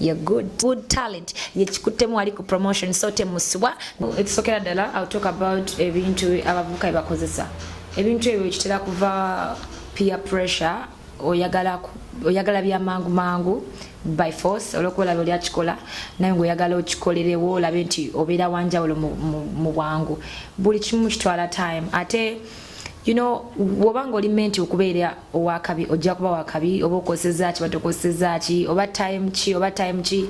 You're good. Good talent. Yekikuttemu ali ku promotion so temusubwa. Ekisokera ddala I'll talk about ebintu abavubuka bye bakozesa. Ebintu ebyo kitera kuva peer pressure oyagala oyagala bya mangu mangu by force olwokuba olaba oli akikola naye ngaoyagala okikolerewo olabe nti obeera wanjawulo mu bwangu buli kimu kitwala time ate you know woba nga oli menti okubeera owakabi ojja kuba wakabi oba okoseza ki batokoseza ki oba time ki oba time ki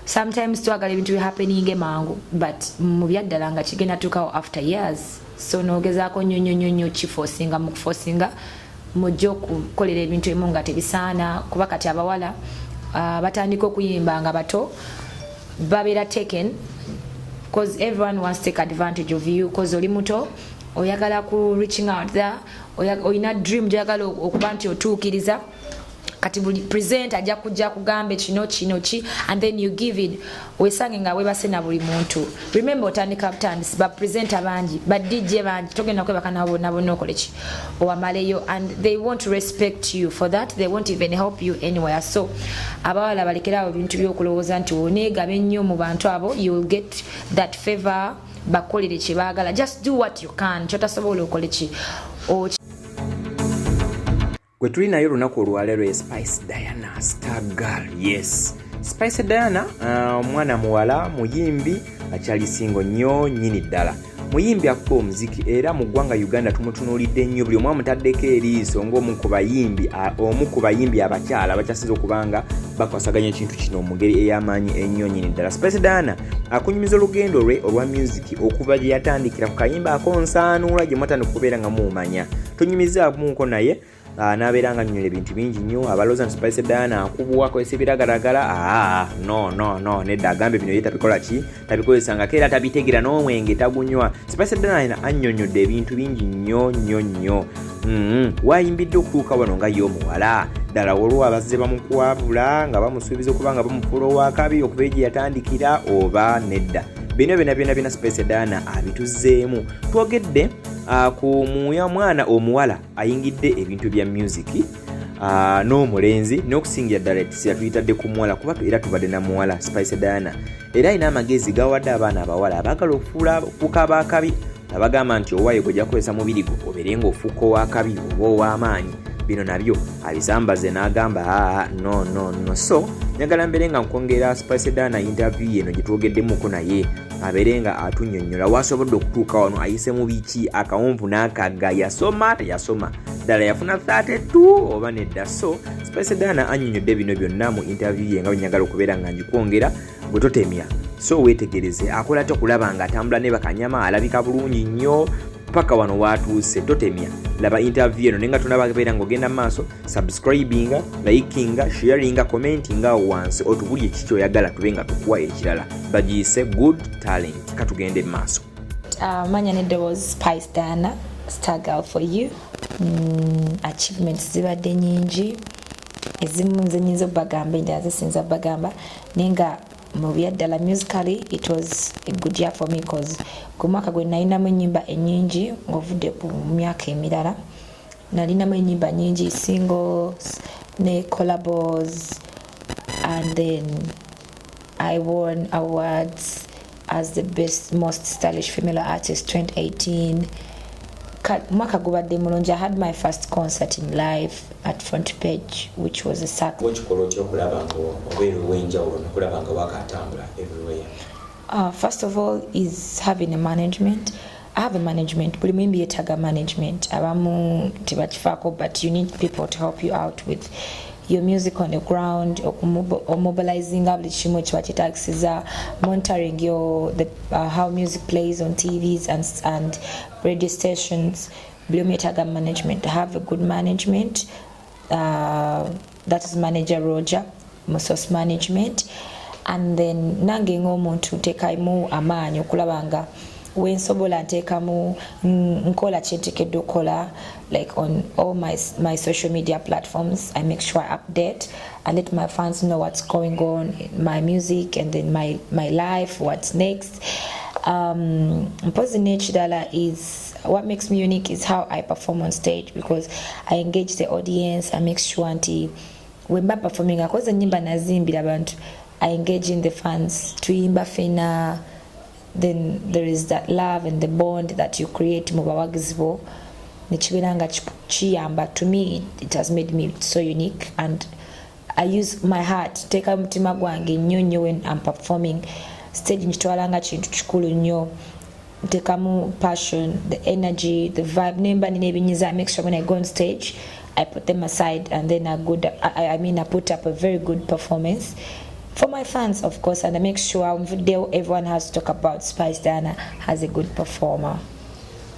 sometimes twagala ebintu bihappening emangu but mu byaddala nga kigenda tukawo after years so nogezaako nnyo nnyo nnyo nnyo kifosinga mu kufosinga mujja okukolera ebintu emu nga tebisaana kuba kati abawala uh, batandika okuyimba nga bato babeera taken bcause everyone wants take advantage of you bcause oli muto oyagala ku reaching out there olina dream gyagala okuba nti otuukiriza kati buli present ajja kujja kugambe kino kino ki and then you give it wesange nga webase na buli muntu remember otandika butandisi ba presenter bangi ba dj bangi togenda kwebaka nabo nabo nokole ki owamaleyo and they want to respect you for that they won't even help you anywhere so abawala balekerawo ebintu byokulowooza nti oneegaba ennyo mu bantu abo you will get that favor bakolere kyebagala just do what you can kyotasobola okole ki gwe tuli naye olunaku olwalero ye spice diana star girl yes spice diana uh, omwana uh, muwala muyimbi akyali singo nnyo nyini ddala muyimbi akuba omuziki era mu ggwanga uganda tumutunuulidde nnyo buli omu amutaddeko eriiso ngaomu ku bayimbi omu ku bayimbi abakyala bakyasinza okubanga bakwasaganya ekintu kino omugeri ey'amaanyi ennyo nyini ddala spice diana akunyumiza olugendo lwe olwa myuziki okuva gye yatandikira ku kayimba akonsaanuula gye mwatandika okubeera nga muumanya tunyumizaamuko naye ah, nabeera nga nyola ebintu bingi nnyo abaloza ntipaise diana akubwa akozesa ebiragalagala ah, no no no nedda agambe bino ye tabikola ki tabikozesangako era tabitegera n'omwenge tagunywa sipaise diana annyonnyodde ebintu bingi nnyo nnyo nnyo Mm-hmm. wayimbidde okutuuka wano nga ye omuwala ddala waliwo abazze bamukwabula nga bamusuubiza okuba nga bamufuula owakabi okuva egye yatandikira oba nedda bino byona byona byona space dana abituzzeemu twogedde ah, ku muya mwana omuwala ayingidde ebintu bya music ah, n'omulenzi n'okusingira ddala yatuyitadde ku muwala kuba era tubadde na muwala spice dana era alina amagezi gawadde abaana abawala abaagala okufuula okukaba akabi abagamba nti owaye gwojja kukozesa mubiri gwo obeere ng'ofuuka ow'akabi oba ow'amaanyi bino nabyo abisambaze n'agamba aa no no no so njagala mbeere nga nkwongera spicedaana interview yeno gye twogeddemuko naye abeere nga atunyonnyola waasobodde okutuuka wano ayise mu biki akawumpu n'akagga yasoma teyasoma ddala yafuna 32 oba nedda so spicedaana annyonnyodde bino byonna mu interview ye nga bwe njagala okubeera nga ngikwongera gwe totemya so wetegereze akola atya okulaba nga atambula ne bakanyama alabika bulungi nnyo paka wano watuuse totemya laba interview eno nenga tunaba beera ng'ogenda mu maaso subscribinga likinga sharinga commentinga awo wansi otubulye kiki kyoyagala tube nga tukuwa ekirala bagiyise good talent katugende mu maaso ah, manya neddoboozi spice dana stargal for you mm, achievements zibadde nyingi ezimu nze nyinza obagamba endala zisinza bagamba naye nga mu byaddala musically it was a good year for me cause ku mwaka gwe nalinamu enyimba enyingi ngaovudde ku myaka emirala nalinamu enyimba nyingi singles ne collabos and then I won awards as the best most stylish female artist 2018 mwaka gubadde mulungi i had my first concert in life at front page which was a sack okikola otya okulaba nga obeera owenjawulo nokulaba nga wakatambula everywhere uh, first of all is having a management have a management buli muyimbi yetaga management abamu tebakifako but you need people to help you out with your music on the ground omobilizing up likimu kiba kyetagisiza monitoring your the, uh, how music plays on tvs and, and radio stations buli omu yetaga management have a good management uh, that is manager roger musos management and then nange ngaomuntu ntekaimu amaanyi okulaba nga wensobola nteekamu nkola kyentekedde okukola like on all my, my social media platforms i make sure i update and let my fans know what's going on my music and then my, my life what's next um, mpozi nekirala is what makes me unique is how i perform on stage because i engage the audience i make sure nti wemba performing akoze nyimba nazimbira abantu i engage in the fans tuyimba fena then there is that love and the bond that you create mu bawagizi bo nekibeera nga kiyamba to me it has made me so unique and I use my heart teeka mutima gwange nnyo nnyo when am performing stage nkitwala nga kintu kikulu nnyo ntekamu passion the energy the vibe nemba nina ebinyiza make sure when i go on stage i put them aside and then i good i, I mean i put up a very good performance for my fans, of course, and I make sure everyone has to talk about Spice Diana as a good performer.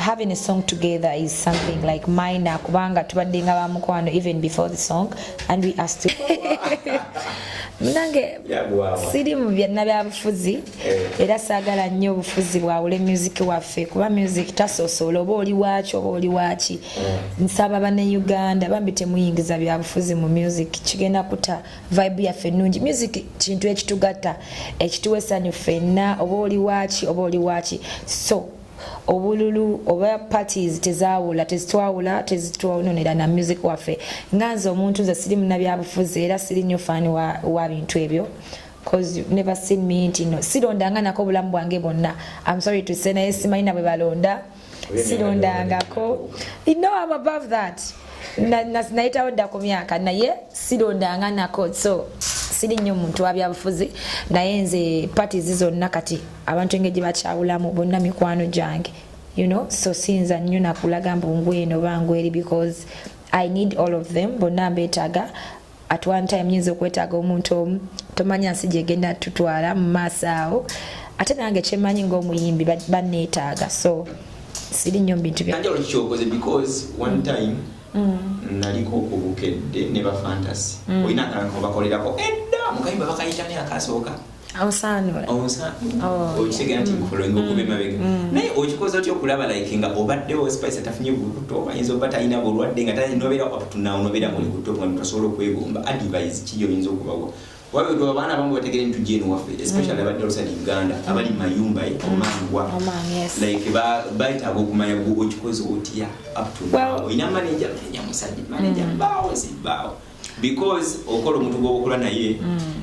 having a song together is something like minor kubanga tubadde nga bamukwano even before the song and we are still munange siri mu byanna byabufuzi eh. era saagala nnyo obufuzi bwawule music waffe kuba music tasosoola oba oli waaki oba oli waaki eh. nsaba bane uganda bambi temuyingiza byabufuzi mu music kigenda kuta vibe yaffe ennungi music kintu ekitugatta ekituwa essanyu ffenna oba oli waaki oba oli waaki so obululu oba parties tezawula tezitwawula tezitwononera na music waffe nga nze omuntu nze siri munabyabufuzi era siri nyo fani wa, wa bintu ebyo cause you've never seen me nti no sirondanga nako obulamu bwange bwonna am sorry to say naye simanyi nabwe balonda sirondangako no am above that nayitawo dda ku myaka naye sirondanga nako so siri nnyo muntu wabyabufuzi naye nze parties zonna kati abantu engeri gye bakyawulamu bonna mikwano gyange you know so siyinza nnyo nakulaga mbu ngweno oba ngweri because i need all of them bonna mbeetaaga at one time nyinza okwetaaga omuntu omu tomanya nsi gyegenda tutwala mu maaso awo ate nange kyemanyi ngaomuyimbi banneetaaga so siri nnyo mu bintu byanjawulokikyokoze because one time mm. naliko obukedde ne bafantasy mm. olina akalanka obakolerako edda mukayimba bakayitani akasooka awusaanula okitegera nti nkola oyinza okuba emabega naye okikoze otya okulaba like nga obaddewo spice atafunye bulukuto ayinza oba talina bulwadde nga tali nobeera waputunawo nobeera mu lukuto nga ntasobola okwegomba advise ki yoyinza okubawa wabwetu abaana abamu bategere nti tujja eno waffe especially abadde olusadi uganda abali mayumba e omangwa like bayitaaga okumanya gwe okikoze otya aptuna olina manaja manaja musajja manaja mbaawo zimbaawo because okola omuntu gwobakola naye mm.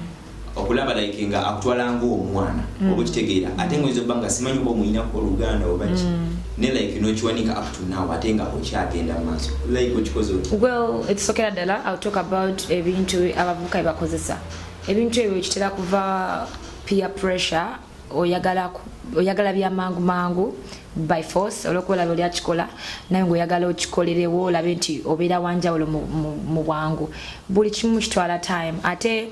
okulaba like nga akutwala ngaomwana mm. oba okitegeera ate nga oyinza obanga simanyi oba omuyinako oluganda oba ki mm. ne like nokiwanika up to now ate nga okyagenda maaso like okikoze oti well ekisokera ddala ill talk about ebintu abavubuka ebakozesa ebintu ebyo kitera kuva peer pressure oyagala oyagala bya mangu mangu by force olwokuba olaba oli akikola naye ngaoyagala okikolerewo olabe nti obeera wanjawulo mu bwangu buli kimu kitwala time ate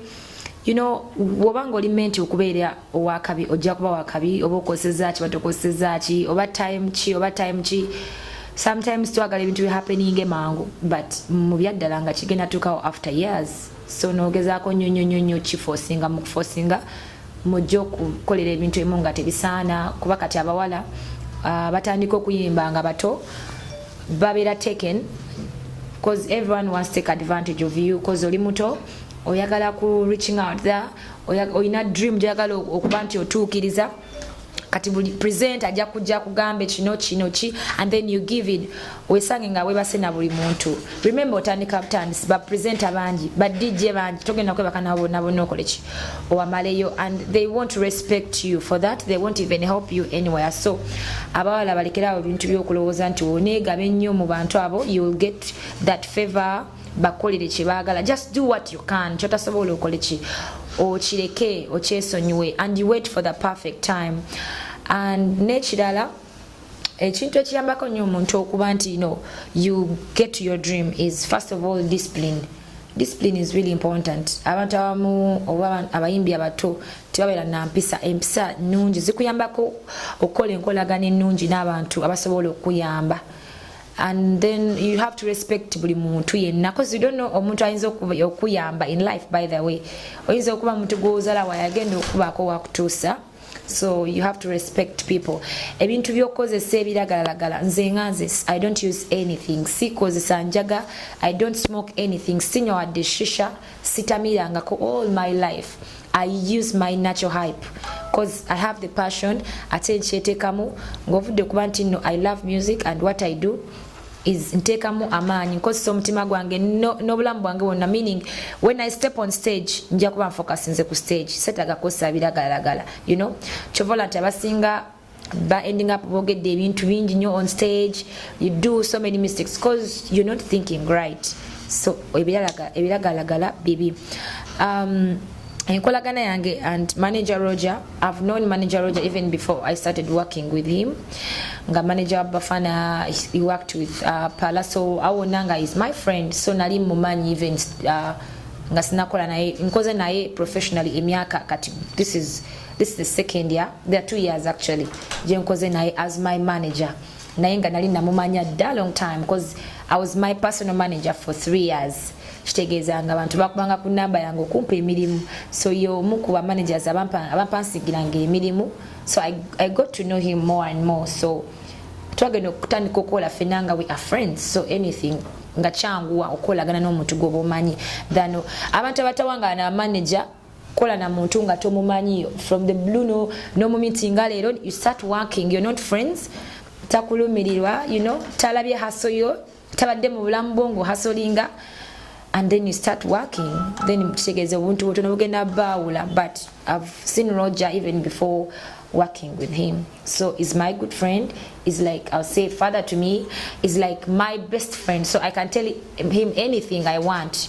you know woba nga oli menti okubeera owakabi ojja kuba wakabi oba okoseza ki batokoseza ki oba time ki oba time ki sometimes twagala ebintu bihappeninge mangu but mu byaddala nga kigenda tukawo after years so nogezaako nyonyonyonyo kifosinga mu kufosinga mujja okukolera ebintu emu nga tebisaana kuba kati abawala uh, batandika okuyimba nga bato babeera taken cause everyone wants take advantage of you cause oli muto oyagala ku reaching out there olina dream gyoyagala okuba nti otuukiriza kati buli present ajja kujja kugambe kino kino ki and then you give it wesange nga webase na buli muntu remember otandika butandisi ba present abangi ba dj bangi togenda kwebaka nabo bonna bonna okole ki owamaleyo and they want to respect you for that they won't even help you anywhere so abawala balekerawo ebintu byokulowooza nti oneegaba ennyo mu bantu abo you will get that favor bakolere kyebagala just do what you can kyotasobola okole ki okireke okyesonyiwe and you wait for the perfect time and nekirala ekintu ekiyambako nyo omuntu okuba nti you know you get to your dream is first of all discipline discipline is really important abantu abamu oba abayimbi abato tebabeera nampisa empisa nungi zikuyambako okukola enkolagana enungi n'abantu abasobola okuyamba and then you have to respect buli muntu yenna cause you don't know omuntu ayinza okuyamba in life by the way oyinza okuba muntu gwozala wayagenda okubaako wakutuusa so you have to respect people ebintu byokukozesa ebiragalalagala nze nga nze i don't use anything sikozesa njaga i don't smoke anything sinywa wadde shisha sitamirangako all my life i use my natural hype cause i have the passion ate nkyetekamu ngaovudde kuba nti no i love music and what i do is nteekamu amaanyi nkozesa omutima gwange n'obulamu bwange bwonna meaning when i step on stage nja kuba nfokasinze ku stage setagakozesa biragalalagala you know kyovola nti abasinga ba ending up bogedde ebintu bingi nyo on stage you do so many mistakes cause you're not thinking right so ebiragalagala bibi um, enkolagana yange and manager roger i've known manager roger even before i started working with him nga manager wa bafana he worked with uh, palaso awona nga is my friend so nali mumanyi even uh, nga sinakola naye nkoze naye professionally emyaka kati this is this is the second year there are two years actually jenkoze naye as my manager naye nga nali namumanya dda long time because i was my personal manager for three years kitegeeza nga abantu bakubanga ku namba yange okumpa emirimu so ye omu ku bamanagers abampansigiranga emirimu so I, i got to know him more and more so twagenda okutandika okukola fena nga we are friends so anything nga kyanguwa okukolagana n'omuntu gwoba omanyi than abantu abatawangana manager kola na muntu nga tomumanyi from the blue no no mumiti nga leero you start working you're not friends takulumirirwa you know talabye haso yo tabadde mu bulamu bwo ng'ohasolinga and then you start working then kitegeeza obuntu butono bugenda baawula but i've seen roger even before working with him so is my good friend is like i'll say father to me is like my best friend so i can tell him anything i want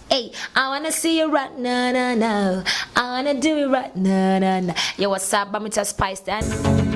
Hey, I wanna see you right now, now, now. I wanna do it right now, now, now. Yo, what's up? I'm Mr. Spice Dan.